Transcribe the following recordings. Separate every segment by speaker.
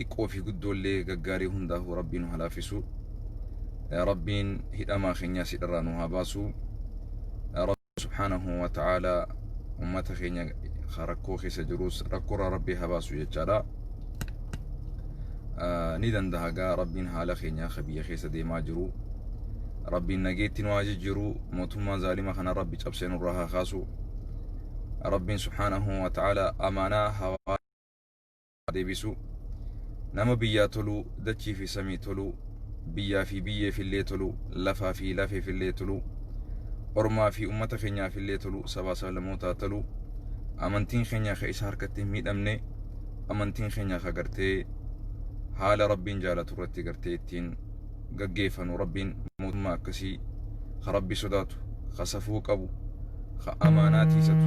Speaker 1: xiqqoo fi guddoollee gaggaarii hundaafuu rabbiin nu halaafisu rabbiin hidhamaa keenyaa sidharraa nu haa baasu rabbiin subhaanahu wa ta'aalaa ummata keenya rakkoo keessa jirus rakkoorraa rabbii haa baasu jechaadha ni danda'a gaa rabbiin haala keenyaa ka biyya keessa deemaa jiru rabbiin nageetti nu haa jijjiiru mootummaa zaalima kana rabbi cabsee nurraa haa kaasu rabbiin subhaanahu wa ta'aalaa amaanaa hawaa deebisuu Nama biyyaa toluu dachii fi samii toluu Biyyaa fi biyyeef illee toluu Lafaa fi lafeef illee toluu Ormaa fi ummata kenyaaf illee toluu Sabaa sablamootaa toluu Amantiin kenyaa ka isa harkatti hin miidhamnee Amantiin kenyaa ka gartee Haala Rabbiin jaalatu irratti gartee ittiin gaggeefanu Rabbiin mootummaa akkasii ka Rabbi sodaatu ka safuu qabu ka amaanaa tiisatu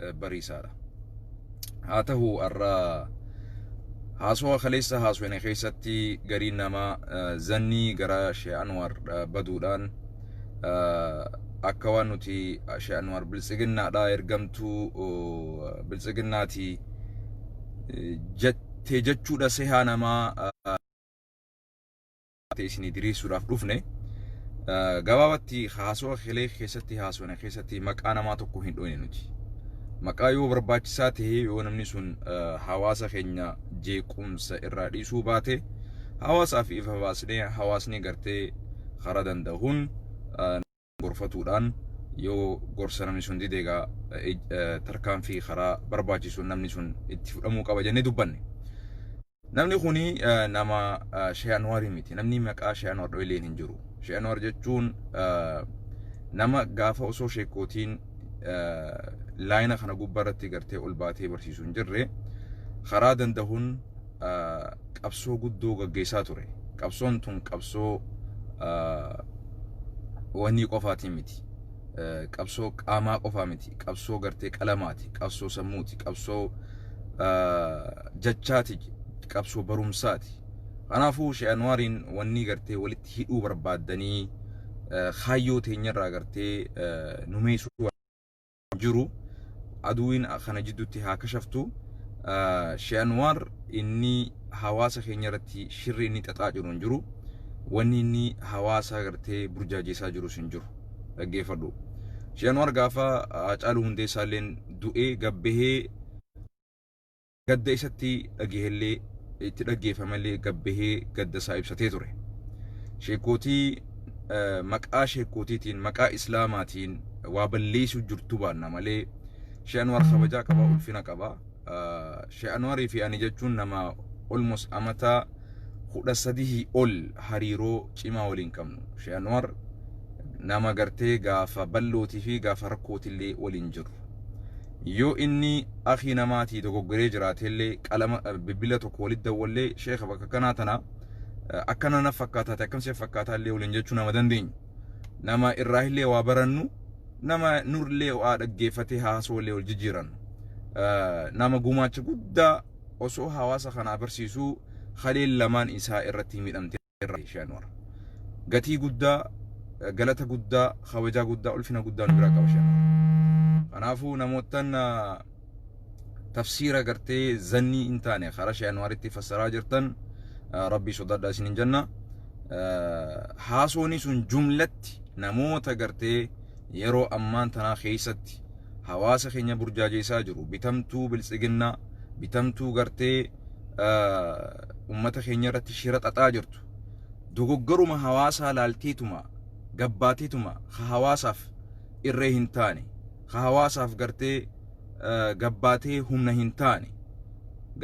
Speaker 1: eh, bariisaadha. Haa ta'u har'a haasawaa kaleessa haasofne keessatti gariin namaa eh, zannii gara Shee Anwaar eh, baduudhaan eh, akka waan nuti eh, Shee Anwaar biltsiginnaadha ergamtuu oh, biltsiginnaati eh, jette jechuudha sehaa namaa eh, taate isinii diriirsuudhaaf dhufne. Gabaabatti haasoo kelee keessatti haasofne keessatti maqaa namaa tokko hin dhoyne nuti. Maqaa yoo barbaachisaa ta'ee yoo namni sun hawaasa keenya jeequmsa irraa dhiisuu baate hawaasaaf ifa baasnee hawaasni gartee karaa danda'uun gorfatuudhaan yoo gorsa namni sun dide egaa tarkaanfii karaa barbaachisu namni sun itti fudhamuu qaba jennee dubbanne. Namni kuni nama Shee Anwaarii miti. Namni maqaa Shee Anwaar dho'ileen hin jiru. Shee Anwaar jechuun nama gaafa osoo sheekootiin laayina kana gubbaa irratti gartee ol baatee barsiisu hin jirre karaa danda'uun qabsoo guddoo gaggeessaa ture. Qabsoon tun qabsoo wanii qofaatiin miti. Qabsoo qaamaa qofaa miti. Qabsoo gartee qalamaati. Qabsoo sammuuti. Qabsoo jachaati. Qabsoo barumsaati. Kanaafuu Shee Anwaariin wannii gartee walitti hidhuu barbaaddanii kaayyoo teenyarraa gartee numeessuu jiru aduwiin kana jidduutti haa kashaftu she'anwaar inni hawaasa keenya irratti shirri inni xaxaa jiru hin jiru wanni inni hawaasa agartee burjaajeessaa jirus hin jiru dhaggeeffadhu she'anwaar gaafa caaluu hundeessaa illeen du'ee gabbahee Gadda isatti dhagahellee itti dhaggeeffamallee gad bahee gadda isaa ibsatee ture. Sheekkootii maqaa sheekkootiitiin maqaa islaamaatiin waa balleessuu jirtu baanna malee Shee Anwaar kabajaa qaba ulfina qaba. Shee Anwaarii fi ani jechuun nama almost amataa kudha sadihii ol hariiroo cimaa waliin qabnu. Shee Anwaar nama gartee gaafa ballootii fi gaafa rakkootillee waliin jirru. Yoo inni akhii namaatii dogoggoree jiraateellee qalama bilbila tokko walit dawwallee sheekha bakka akkanaa tana akkana naf fakkaataate akkam siif fakkaataallee waliin jechuu nama dandeenyu. Nama irraahillee waa barannu nama nurlee waa dhaggeeffatee haasawallee wal jijjiirannu. Nama gumaacha guddaa osoo hawaasa kanaa barsiisuu haleen lamaan isaa irratti miidhamte. irraa ishee anwar gatii guddaa galata guddaa kabajaa guddaa ulfina guddaa nu biraa qaba ishee anwar kanaafuu namoottan tafsiira gartee zannii hin taane karaa ishee anwaritti fassaraa jirtan rabbii sodaadhaa isin hin janna haasooni sun jumlatti namoota gartee yeroo ammaan tanaa keessatti hawaasa keenya burjaajeessaa jiru bitamtuu biltsiginnaa bitamtuu gartee ummata keenya irratti shira xaxaa jirtu dogoggoruma hawaasaa laalteetuma gabbaateetuma ka hawaasaaf irree hin taane ka hawaasaaf gartee gabbaatee humna hin taane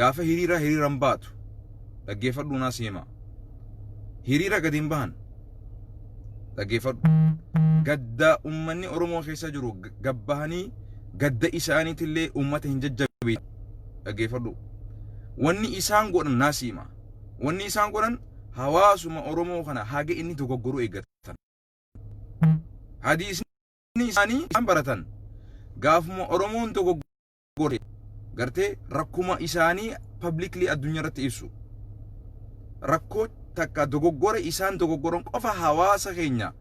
Speaker 1: gaafa hiriira hiriiran baatu dhaggeeffadhuu naa seemaa hiriira gadi hin bahan dhaggeeffadhu gadda ummanni oromoo keessa jiru gabbahanii gadda isaaniitillee ummata hin jajjabeessu dhaggeeffadhu wanni isaan godhan naa siima wanni isaan godhan hawaasuma oromoo kana haga inni dogoggoruu eeggatan hadiisni isaanii isaan baratan gaafuma oromoon dogoggore gartee rakkuma isaanii publicly addunyaa irratti ibsu rakkoo takka dogoggora isaan dogoggoran qofa hawaasa keenya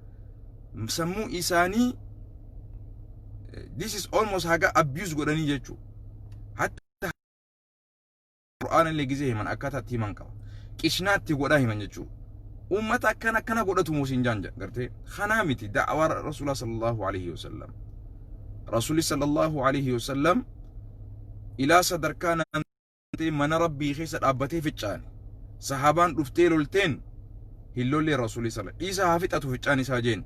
Speaker 1: sammuu isaanii this is almost haga abuse godhanii jechuudha hatta qur'aana illee gizee himan akkaataa itti himan qaba qishnaa itti godhaa himan jechuudha ummata akkan akkana godhatu muusin jaan gartee kanaa miti da'awaa rasuulaa sallallahu alaihi wasallam rasuuli sallallahu alaihi wasallam ilaa sadarkaa naantee mana rabbii keessa dhaabbatee ficcaane sahaabaan dhuftee lolteen hin lollee rasuuli sala dhiisa haa fixatu ficcaan isaa jeen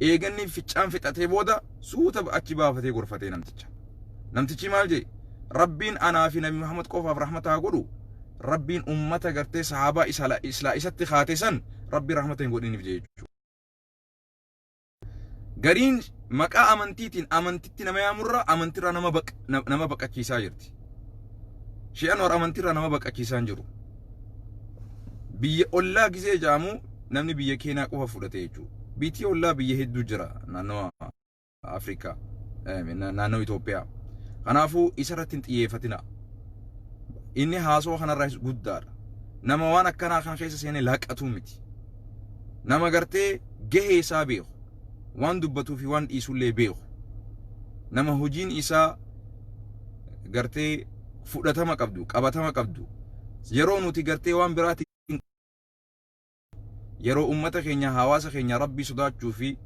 Speaker 1: eeganni ficcaan fixatee booda suuta achi baafatee gorfatee namticha Namtichi maal jee? Rabbiin anaa fi Nabi Muhammad qofaaf rahmata haa godhu. Rabbiin ummata gartee sahaabaa isala islaa isatti kaate san Rabbiin rahmata hin godhiniif jee jechuudha. Gariin maqaa amantiitiin amantitti nama yaamurra amantirraa nama baq na- nama baqachiisaa jirti. Shi'an war amantirraa nama baqachiisaa hin jiru. Biyya ollaa gisee jaamu namni biyya keenyaa qofa fudhate jechuudha. Biitii ollaa biyya hedduu jira naannawa Afrikaa naannoo Itoophiyaa. Kanaafuu isa irratti hin xiyyeeffatina. Inni haasoo kanarraas guddaadha. Nama waan akkanaa kana keessa seenee laqatuu miti. Nama gartee gahee isaa beeku. Waan dubbatuu fi waan dhiisullee beeku. Nama hojiin isaa gartee fudhatama qabdu, qabatama qabdu. Yeroo nuti gartee waan biraatti yeroo ummata keenya hawaasa keenya rabbii sodaachuu fi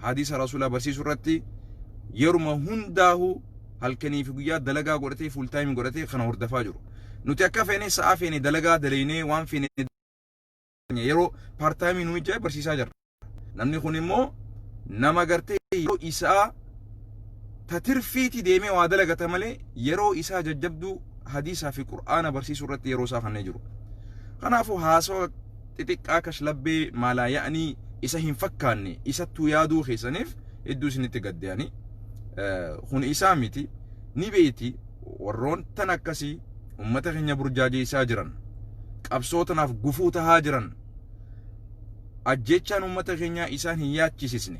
Speaker 1: hadiisa rasuulaa barsiisuu irratti yeruma hundaahu halkanii fi guyyaa dalagaa godhatee fuul taayimii godhatee kana hordafaa jiru. Nuti akka feene sa'a feene dalagaa dalaynee waan feene yeroo paartaayimii nuyi jee barsiisaa jirra. Namni kun immoo nama gartee yeroo isaa ta tirfiiti deemee waa dalagata malee yeroo isaa jajjabduu hadiisaa fi qur'aana barsiisuu irratti yeroo isaa kannee jiru. Kanaafuu haasawa xixiqqaa kashlabbee maalaa ya'anii isa hin fakkaanne isattuu yaaduu keessaniif hedduu isinitti gadde ani. Kun isaa miti ni beeyti warroon tan akkasii ummata keenya burjaajeessaa jiran qabsoo tanaaf gufuu tahaa jiran ajjeechaan uummata keenyaa isaan hin yaachisisne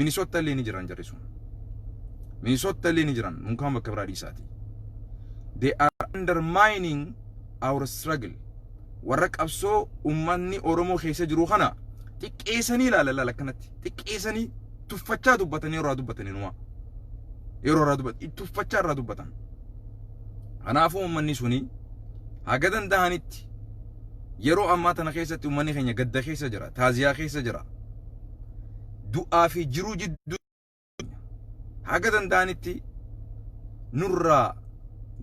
Speaker 1: minisotta illee ni jiran jarri sun minisotta illee ni jiran unkaan bakka biraa dhiisaati they are undermining our struggle warra qabsoo uummanni oromoo keessa jiru kana xiqqeessanii ilaala ilaala akkanatti xiqqeessanii tuffachaa dubbatan yeroo irraa dubbatan inuma yeroo irraa dubbatan tuffachaa irraa dubbatan kanaafuu uummanni suni haga danda'anitti Yeroo ammaa tana keessatti ummanni keenya gadda keessa jira, taaziyaa keessa jira. Du'aa fi jiruu jidduu haga danda'anitti nurraa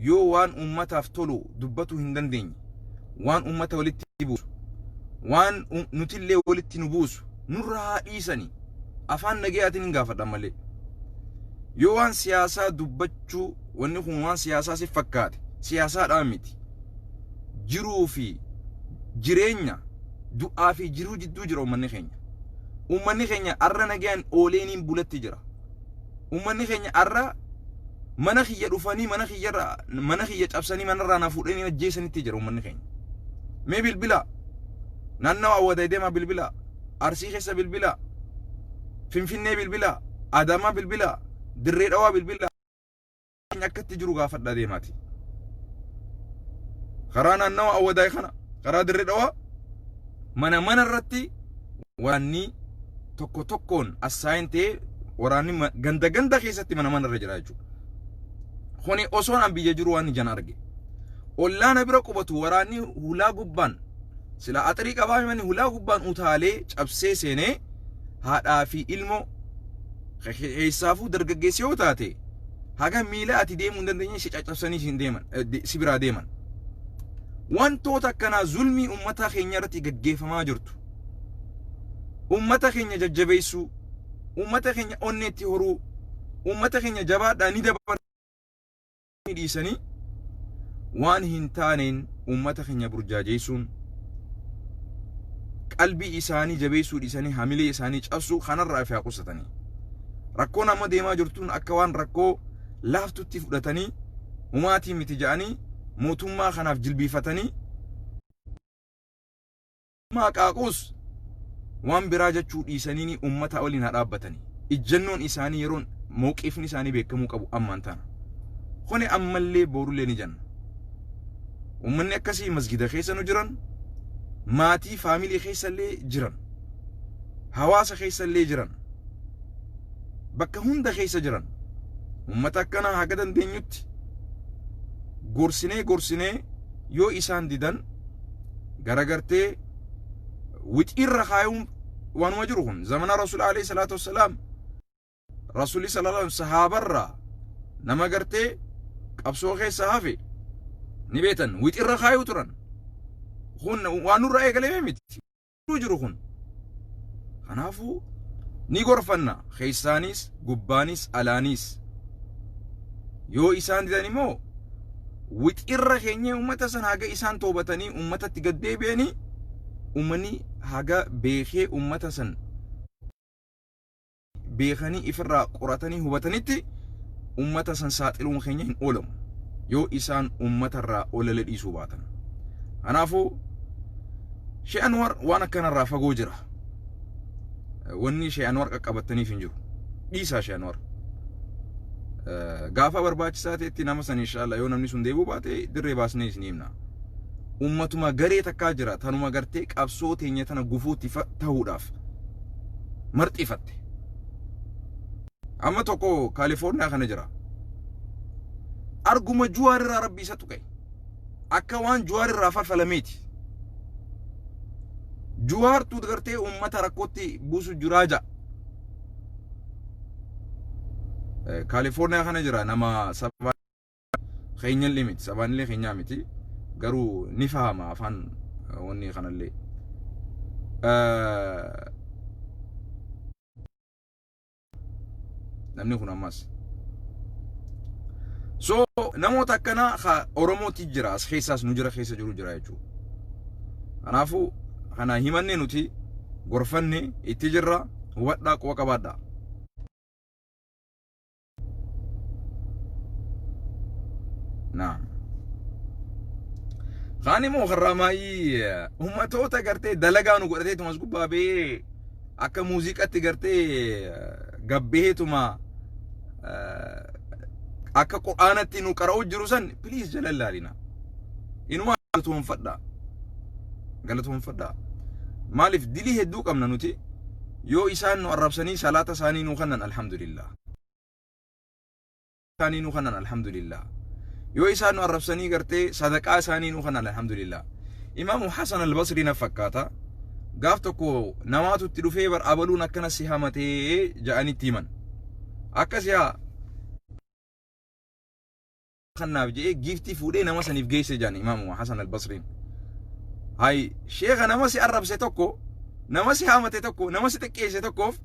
Speaker 1: yoo waan ummataaf tolu dubbatuu hin dandeenye, waan ummata walitti buusu, waan um- nutillee walitti nu buusu nurraa haa dhiisani. Afaan nagayaatiin hin gaafadhan malee. Yoo waan siyaasaa dubbachuu wanni kun waan siyaasaa si fakkaate siyaasaadhaan miti. jiruu fi jireenya du'aa fi jiruu jidduu jira uummanni keenya. Uummanni keenya arra nagayaan oolee niin bulatti jira. Uummanni keenya arra mana kiyya dhufanii mana kiyyarra mana kiyya cabsanii manarraa na fuudhanii ajjeesanitti jira uummanni keenya. Mee bilbilaa naannawa awwadaay deemaa bilbilaa arsii keessa bilbilaa finfinnee bilbilaa adaamaa bilbilaa dirree dhawaa bilbilaa. keenya akka itti jiru gaafadhaa deemaati. Karaa naannawa Awwadaay kana karaa dirree dhawaa mana mana irratti waraanni tokko tokkoon assaayin ta'ee waraanni ma- ganda ganda keessatti mana mana irra jira jechuudha. Kuni osoon an biyya jiru waan ijaan arge. Ollaana bira qubatu waraanni hulaa gubbaan sila axrii qabaa himani hulaa gubbaan utaalee cabsee seenee haadhaa fi ilmoo Keessaafuu dargaggeessa yoo taate haga miila ati deemuu hin dandeenye si caccabsanii si deeman si biraa deeman. Wantoota akkanaa zulmii uummataa keenya irratti gaggeeffamaa jirtu. Uummata keenya jajjabeessuu, uummata keenya onneetti horuu, uummata keenya jabaadhaa ni dabarsa. isaanii dhiisanii waan hin taaneen uummata keenya burjaajeessuun qalbii isaanii jabeessuu dhiisanii hamilee isaanii cabsuu kanarraa fi haa qusatanii. Rakkoon amma deemaa jirtuun akka waan rakkoo laaftutti fudhatanii humaatii miti ja'anii mootummaa kanaaf jilbiifatanii Maa qaaquus waan biraa jechuu dhiisaniini ummataa waliin haa dhaabbatani. Ijjannoon isaanii yeroon mawqiifni isaanii beekamuu qabu ammaan tana. Kuni ammallee boorullee ni janna. Ummanni akkasii masgida keessa nu jiran, maatii faamilii keessallee jiran, hawaasa keessallee jiran, bakka hunda keessa jiran. Ummata akkanaa haga dandeenyutti gorsinee gorsinee yoo isaan didan garagartee wixiirra kaayuun waanuma jiru kun zamana rasuula alayhi salaatu wassalaam rasuuli sallallahu alaihi sahaabarraa nama gartee qabsoo keessa hafe ni beetan wixiirra kaayuu turan kun waan nurra eegalee miti hedduu jiru kun kanaafuu ni gorfanna keessaaniis gubbaaniis alaaniis yoo isaan didan immoo wixirra keenyee ummata san haga isaan toobatanii ummatatti gad deebi'anii ummani haga beekee ummata san beekanii ifirraa qoratanii hubatanitti ummata san saaxiluun keenya hin oolamu yoo isaan ummatarraa olala dhiisuu baatan kanaafuu Shee Anwar waan akkanarraa fagoo jira wanni Shee Anwar qaqqabattaniif hin jiru dhiisaa Shee Anwar gaafa barbaachisaa ta'etti nama san inshaalla yoo namni sun deebuu baate dirree baasnee isin himna ummatuma garee takkaa jira tanuma gartee qabsoo teenya tana gufuutti ta'uudhaaf marxifatte. Amma tokko Kaalifoorniyaa kana jira. Arguma Juwaar irraa rabbi isa tuqe. Akka waan Juwaar irraa falfalameeti. Juwaartu gartee uummata rakkootti buusu jiraa ja'a. Kaalifoorniyaa kana jira nama sabaa. keenyallee miti sabaanillee keenyaa miti garuu ni fahama afaan wanni kanallee. Namni kun ammas. So namoota akkanaa ka Oromooti jira as keessaas nu jira keessa jiru jira jechuudha. Kanaafuu kana himannee nuti gorfanne itti jirra hubadhaa quba qabaadhaa. naam kaan immoo karraa maayii ummatoota gartee dalagaa nu godhateetuma as gubbaa ba'ee akka muuziqatti gartee gabbeetuma akka qur'aanatti nu qara'u jiru san please jala ilaalina inuma galatoonfadha galatoonfadha maaliif dilii hedduu qabna nuti yoo isaan nu arrabsanii salaata isaanii nu kannan alhamdulillah isaanii nu kanan alhamdulillah yoo isaan nu arrabsanii gartee sadaqaa isaanii nu kanan alhamdulillah imaamu hasan albasrii na fakkaata gaaf tokko namaatu itti dhufee bar abaluun akkana si hamatee ja'anitti himan akkasi haa kannaaf je'ee giiftii fuudhee nama saniif geesse jedhan imaamuma Hasan al-Basriin. Hayi sheekha nama si arrabse tokko nama si haamate tokko nama si xiqqeesse tokkoof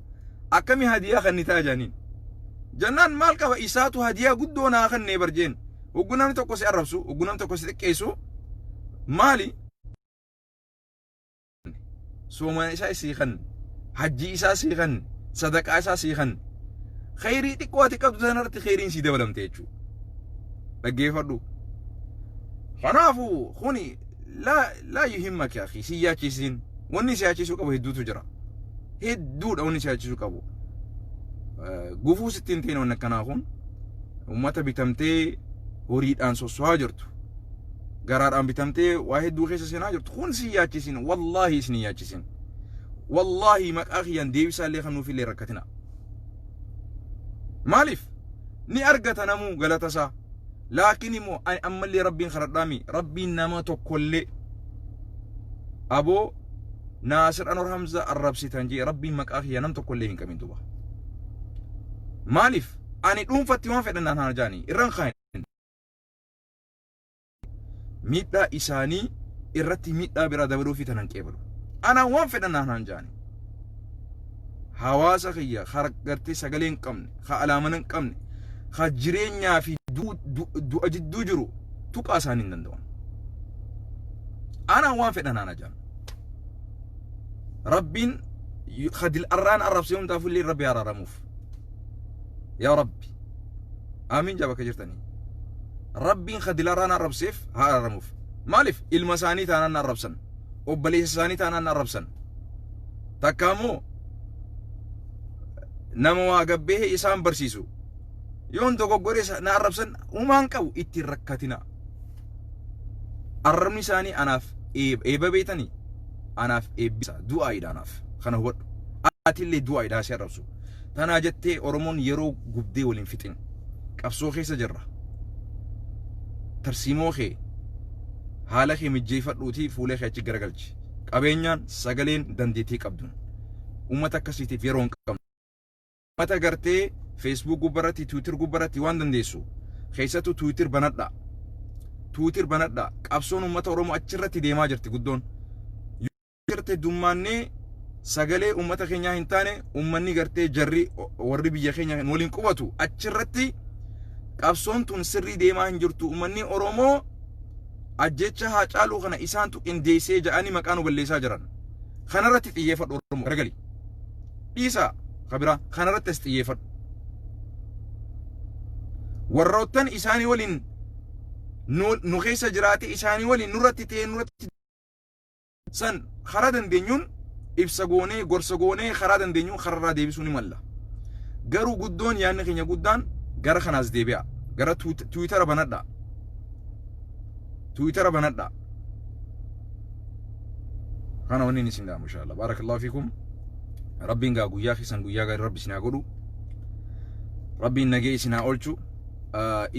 Speaker 1: akkami hadiyaa kannitaa jedhaniin. Jannaan maal qaba isaatu hadiyaa guddoo naa kannee bar jeen. Hoggu namni tokko si arrabsu hoggu namni tokko si xiqqeessu maali soomaa isaa sii kan hajjii isaa sii kan sadaqaa isaa sii kan khayrii xiqqoo ati qabdu sanarratti khayriin sii dabalamte jechuudha dhaggeeffadhu kanaafuu kuni laa laa yuhimmaki akhi si yaachisin wanni si yaachisuu qabu hedduutu jira hedduudha wanni si yaachisuu qabu gufuu sittiin ta'in wanni akkanaa kun ummata bitamtee horiidhaan sossohaa jirtu garaadhaan bitamtee waa hedduu keessa seenaa jirtu kun si yaachisin wallaahi isin yaachisin wallaahi maqaa kiyyaan deebisaa illee kan nuuf illee rakkatina maaliif ni argata namuu galata isaa laakiin immoo ani ammallee rabbiin kadhadhaami rabbiin nama tokkollee aboo naasir anor hamza arrabsitan jee rabbiin maqaa kiyya nam tokkollee hin qabin duba maaliif ani dhuunfatti waan fedhan naan haa jaani irraan kaan miidhaa isaanii irratti miidhaa biraa dabaluu fi tanan qeebalu. Anaan waan fedhan naan haan jaani. Hawaasa kiyya kan gartee sagalee hin qabne, kan alaamana hin qabne, kan jireenyaa fi du- du- du'a jidduu jiru tuqaa isaanii hin danda'an. Anaan waan fedhan naan jaani. Rabbiin kadil arraan arrabsee hundaafuu illee Rabbi araaramuuf. Yaa Rabbi. aamiin jaa bakka jirtanii rabbiin ka dilaraa na arrabseef haa araramuuf maaliif ilma isaanii taanaan na arrabsan obboleessa isaanii taanaan na arrabsan takka ammoo nama waa gabbee isaan barsiisu yoon dogoggore isa- na arrabsan umaan qabu ittiin rakkatina arrabni isaanii anaaf eeb- eeba beetanii anaaf eebbisa du'aayidha anaaf kana hubadhu atillee du'aayidha si arrabsu Tanaa jettee Oromoon yeroo gubdee wal hin fixin. Qabsoo keessa jirra. Tarsiimoo kee haala kee mijjeeffadhuutii fuula kee achi garagalchi. Qabeenyaan, sagaleen, dandeettii qabduun. Uummata akkasiitiif yeroo hin qabnu. Uummata gartee Facebook gubbarratti, Twitter gubbarratti waan dandeessu. Keessattuu Twitter banadhaa. Twitter banadhaa. Qabsoon uummata Oromoo achirratti deemaa jirti guddoon. garte dummaannee sagalee uummata keenyaa hin taane uummanni gartee jarri warri biyya keenya kan waliin qubatu achirratti qabsoon tun sirrii deemaa hin jirtu uummanni Oromoo ajjecha haa caaluu kana isaantu qindeessee ja'anii maqaa nu balleessaa jiran. Kanarratti xiyyeeffadhu Oromoo garagali. Dhiisaa kabiraa kanarratti as xiyyeeffadhu. Warroottan isaanii waliin nu keessa jiraatee isaanii waliin nurratti ta'ee nurratti San karaa dandeenyuun ibsa goonee, gorsa goonee karaa dandeenyuun kararraa deebisuu ni malla. Garuu guddoon yaadni keenya guddaan gara kanaas deebi'aa. Gara tuwit- tiwiitara banadhaa. Tiwiitara banadhaa. Kana wanni inni isin dhaamu inshaallah. Baarakallahu fiikum. Rabbiin gaa guyyaa keessan guyyaa gaarii rabbi isin haa godhu. Rabbiin nagee isin haa oolchu.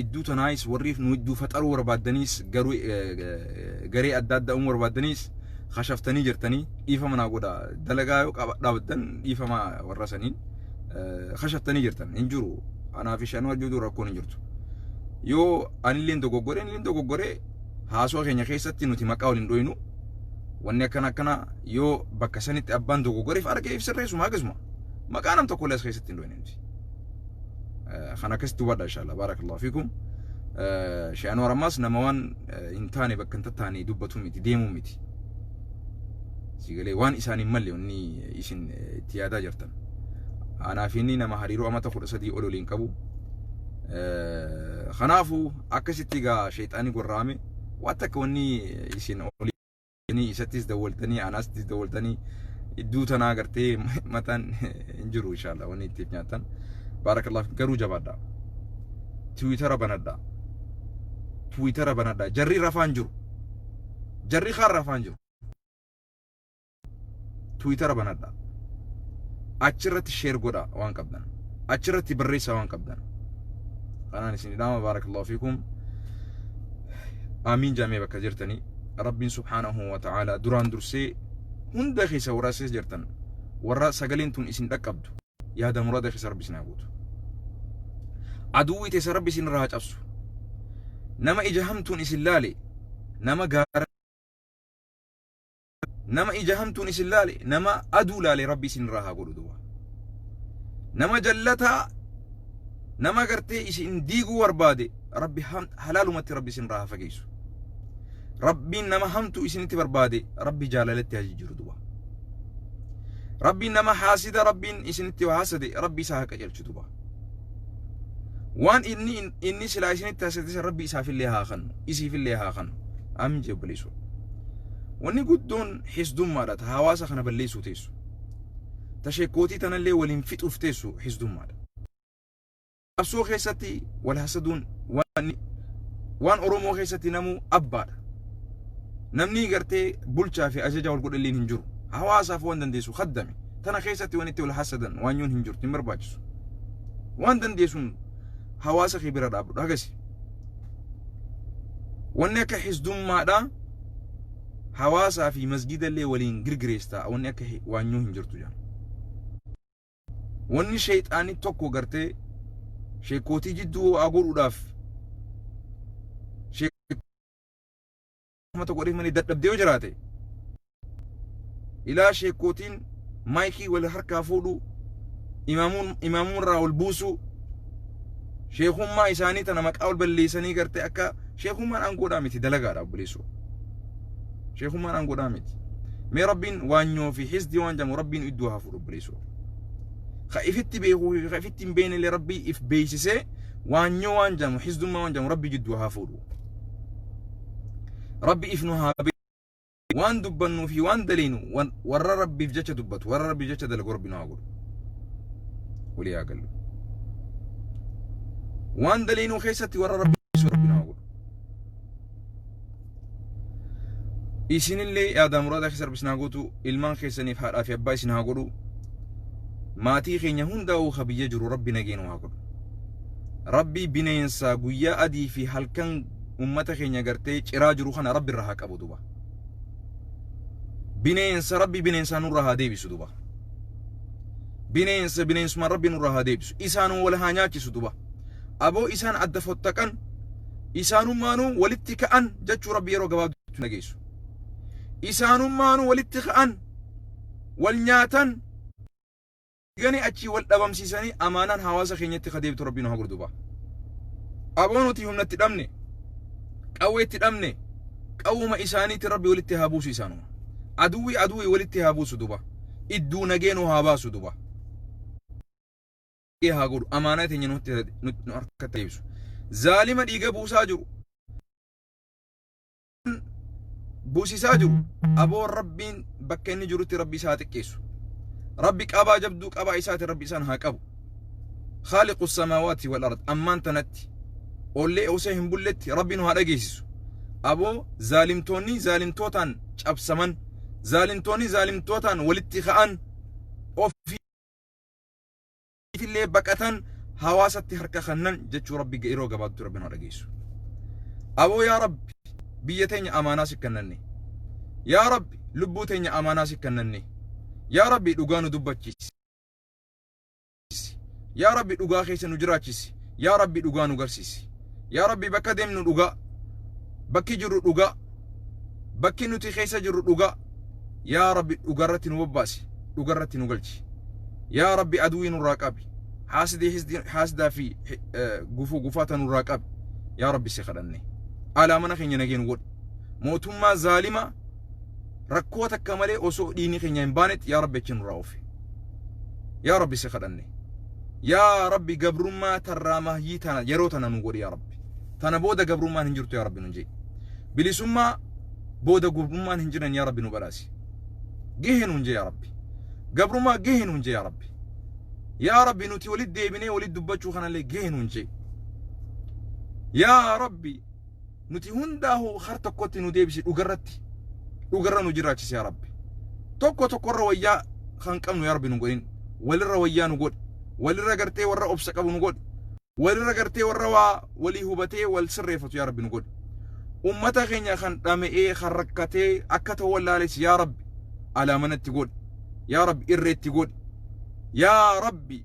Speaker 1: idduu tanaayis warriif nu idduu faxaruu barbaaddaniis garuu garee adda addaa uumuu barbaaddaniis kashaftanii jirtanii dhiifama naa godha dalagaa yoo dhaabaddan dhiifama warra saniin kashaftanii jirtan hin jiru anaa fi shanuu ajjuutu rakkoon hin jirtu yoo anilleen dogoggore anilleen dogoggore haasoo keenya keessatti nuti maqaa waliin dhoynu wanni akkana akkana yoo bakka sanitti abbaan dogoggoreef arge ibsirreessuma akkasuma maqaa nam tokkollee as keessatti hin dhoyne nuti. kan akkasitti hubadha inshallah barakallahu fikum Sheekh Anwar ammas nama waan hin taane bakka hin tattaane dubbatu miti deemu miti sigalee waan isaan hin malle inni isin itti yaadaa jirtan anaaf inni nama hariiroo amata kudha sadii ol waliin qabu kanaafuu akkasitti gaa sheexaanii gorraame waan takka wanni isin olii Isinii isattis dawwaltanii anaastis dawwaltanii idduu tanaa gartee mataan hin jiru inshaalla wanni ittiif nyaattan. Baarakallahu garuu jabaadha. Tiwiitara banadha. Tiwiitara banadha. Jarri rafaan jiru. Jarri kaan rafaan jiru. Tiwiitara banadha. Achirratti sheer godha waan qabdan. Achirratti barreessa waan qabdan. Kanaan isin idhaama baarakallahu fiikum. Aamiin jaamee bakka jirtanii. Rabbiin subhaanahu wa ta'aala duraan dursee hunda keessa warra keessa jirtan warra sagaleen tun isin dhaqqabdu yaada murada keessa rabbi isin haa guutu. Aduwwi teessa rabbi isin irraa haa cabsu. Nama ija hamtuun isin laale nama gaara nama ija hamtuun isin laale nama aduu laale rabbi isin irraa haa godhu duba nama jallataa nama gartee isin diiguu barbaade rabbi halaalumatti rabbi isin irraa haa fageessu rabbiin nama hamtu isinitti barbaade rabbi jaalalatti haa jijjiiru duba rabbiin nama haasida rabbiin isinitti haasade rabbi isaa haa qajeelchu duba waan inni inni silaa isinitti haasitisan rabbi isaafillee haa kannu isiifillee haa kannu amin jee obboleessu wanni guddoon hisdummaadha ta hawaasa kana balleessuu teessu ta sheekkootii tanallee waliin fixuuf teessu hisdummaadha qabsoo keessatti wal hasaduun waan waan oromoo keessatti namuu abbaadha namni gartee bulchaa fi ajajaa wal godhalleen hin jiru hawaasaaf waan dandeessu kaddame tana keessatti waan itti wal hasadan waan yoon hin jirtu hin barbaachisu waan dandeessuun hawaasa kee bira dhaabdudha hagasi wanni akka hisdummaadha hawaasaa fi masgidallee waliin girgireestaa wanni akka hi- waan yoo hin jirtu jedhan wanni sheexaanii tokko gartee sheekootii jidduu waa godhuudhaaf kuma tokko dhibba manii dadhabde yoo jiraate ilaa sheekkootiin maayikii wal harkaa fuudhu imaamuun imaamuun irraa wal buusuu sheekummaa isaanii tana maqaa wal balleessanii gartee akka sheekummaan aangoodhaa miti dalagaadha obboleessoo sheekummaan aangoodhaa miti mee rabbiin waanyoo fi hisdi waan jedhamu rabbiin iddoo haa fuudhu obboleessoo ka ifitti beekuu fi ka ifitti hin beekne illee rabbii if beeksisee waanyoo waan jedhamu hisdummaa waan jedhamu rabbii jidduu haa fuudhu rabbi if nu haa beeku waan dubbannuu fi waan daleenu wan- warra rabbiif jecha dubbatu warra rabbiif jecha dalagu rabbi nu haa godhu walii haa gallu waan daleenuu keessatti warra rabbi dhiisu rabbi nu haa godhu isinillee yaadaa muraadaa keessa rabbi isin haa gootu ilmaan keessaniif haadhaa fi abbaa isin haa godhu maatii keenya hundaa'uu ka biyya jiru rabbi nageenuu haa godhu rabbii bineensaa guyyaa adii fi halkan ummata keenya gartee ciraa jiru kana rabbi irra haa qabu duba bineensa rabbi bineensaa nurra haa deebisu duba bineensa bineensuma rabbi nurra haa deebisu isaanuma wal haa nyaachisu duba aboo isaan adda fottaqan isaanummaanuu walitti ka'an jechuu rabbi yeroo gabaabduutti nageessu isaanummaanuu walitti ka'an wal nyaatan Gani achii wal dhabamsiisanii amaanaan hawaasa keenyatti ka deebitu rabbii nu haa godhu duba. Aboo nuti humna itti dhabne, qawwee itti dhabne, qawwuma isaaniitti rabbi walitti haa buusu isaanuma. Aduwwi aduwwi walitti haa buusu duba. Idduu nagee nu haa baasu duba. haa godhu amaanaa teenya nu harkatti deebisu. Zaalima dhiiga buusaa jiru. buusisaa jiru aboo rabbiin bakka inni jirutti rabbi isaa xiqqeessu rabbi qabaa jabduu qabaa isaati rabbi isaan haa qabu khaaliqu samaawaati wal ard ammaan tanatti ollee osoo hin bulletti rabbi nu haa dhageessisu aboo zaalimtoonni zaalimtootaan cabsaman zaalimtoonni zaalimtootaan walitti ka'an ofii illee baqatan hawaasatti harka kannan jechuu rabbi yeroo gabaabtu rabbi nu dhageessu aboo yaa rabbi biyya teenya amaanaa si kannanne yaa rabbi lubbuu teenya amaanaa si kannanne yaa rabbi dhugaa nu dubbachiisi yaa rabbi dhugaa keessa nu jiraachisi yaa rabbi dhugaa nu garsiisi yaa rabbi bakka deemnu dhugaa bakki jirru dhugaa bakki nuti keessa jirru dhugaa yaa rabbi dhugarratti nu bobbaasi dhugarratti nu galchi yaa rabbi aduwii nurraa qabi haasidii hisdii- haasidaa fi hi- eh, gufuu gufaata nurraa qabi yaa rabbi si kadhanne alaa mana keenya nageen godhi mootummaa zaalimaa rakkoo takka malee osoo dhiigni keenya hin baanetti yaa rabbi achi nurraa oofi yaa rabbi si kadhanne yaa rabbi gabrummaa tarraa mahyii tana yeroo tana nu godhi yaa rabbi tana booda gabrummaan hin jirtu yaa rabbi nun jedhi bilisummaa booda gabrummaan hin jiran yaa rabbi nu badhaasi gahee nun jee yaa rabbi gabrummaa gahee nun jee yaa rabbi yaa rabbi nuti walitti deebinee walitti dubbachuu kanallee gahee nun jee yaa rabbi nuti hundaahu har tokkotti nu deebisi dhugarratti dhugarra nu jiraachisi yaa rabbi tokko tokkorra wayyaa kan qabnu yaa rabbi nu godhin walirra wayyaa nu godhi walirra gartee warra obsa qabu nu godhi walirra gartee warra waa walii hubatee wal sirreeffatu yaa rabbi nu godhi ummata keenya kan dhama'ee kan rakkatee akka ta'u wallaalessi yaa rabbi alaamanatti godhi yaa rabbi irreetti godhi yaa rabbi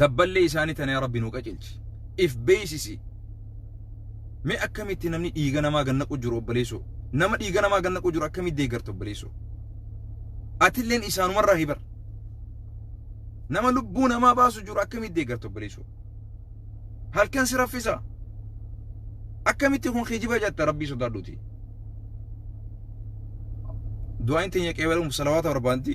Speaker 1: dabballee isaanii tana yaa rabbi nuu qacelchi if beeysisi mee akkamitti namni dhiiga namaa gannaqu jiru obboleessoo nama dhiiga namaa gannaqu jiru akkamitti deeggarta obboleessoo atilleen isaanumarraa hibar nama lubbuu namaa baasu jiru akkamitti deeggarta obboleessoo halkan si raffisa akkamitti kun kijiba jatta rabbii sodaadhuti du'aan teenya qeebaluuf salawaata barbaanti